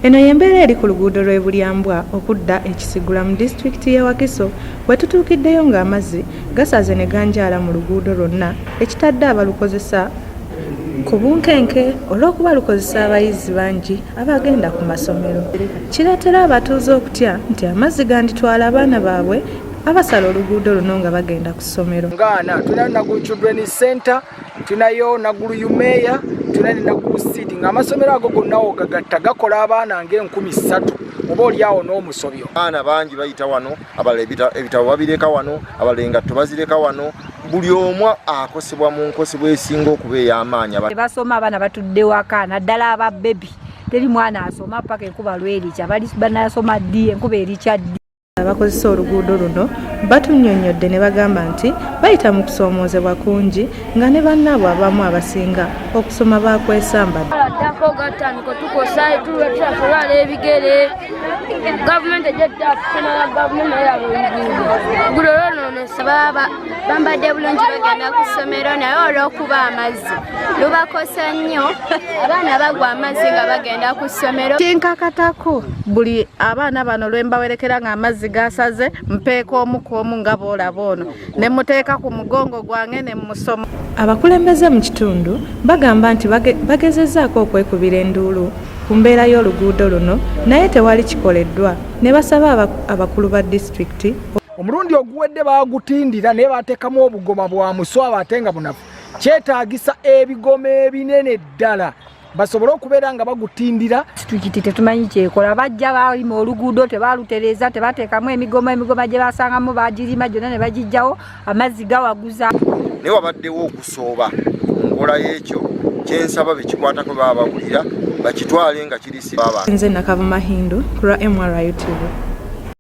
Eno y'embeera eri ku luguudo lw'e Bulyambwa okudda e Kisigula mu disitulikiti y'e Wakiso we tutuukiddeyo ng'amazzi gasaze ne ganjaala mu luguudo lwonna ekitadde abalukozesa ku bunkenke olw'okuba lukozesa abayizi bangi abagenda ku masomero kireetera abatuuze okutya nti amazzi ganditwala abaana baabwe abasala oluguudo luno nga bagenda ku ssomero. tunayo nagulu yumeya tuna nenagulu sidi nga amasomero ago gonna ogagatta gakola abaana nga enkumi ssatu oba olyawo n'omusobyo abaana bangi bayita wano abala ebitabo babireka wano abala engatto bazireka wano buli omu akosebwa mu nkosebwa esinga okuba ey'amaanyi basoma abaana batudde waka naddala aba bebi teri mwana asoma paka enkuba lwerikya bali banasoma ddi enkuba erikya ddi abakozesa oluguudo luno batunyonyodde ne bagamba nti bayita mu kusoomoozebwa kungi nga ne bannaabwe abamu abasinga okusoma baakwesambaddako gatandika tukosa tulwetulwala ebigere gavumenti ejja tutakusomaa gavumenti naye aba oluguudo gulo lwonoonesa baba bambadde bulungi bagenda ku ssomero naye olw'okuba amazzi lubakosa nnyo abaana bagwa amazzi nga bagenda ku ssomero kinkakatako buli abaana bano lwe mbawerekera ng'amazzi gasaze mpeeka omu ku omu nga boolaba ono ne muteeka ku mugongo gwange ne musoma abakulembeze mu kitundu bagamba nti bagezezzaako okwekubira enduulu ku mbeera y'oluguudo luno naye tewali kikoleddwa ne basaba abakulu ba disitulikiti omulundi oguwedde baagutindira naye bateekamu obugoma bwa muswaba ate nga bunafu kyetaagisa ebigoma ebinene ddala basobole okubeera nga bagutindira situkiti tetumanyi kyekola bajja balima oluguudo tebalutereeza tebateekamu emigoma emigoma gye basangamu bagirima gyonna ne bagijjawo amazzi gawaguza naye wabaddewo okusooba nkola y'ekyo kyensaba bekikwatako baba bawulira bakitwale nga kirisi nze nakava mahindu ku lwa mru tv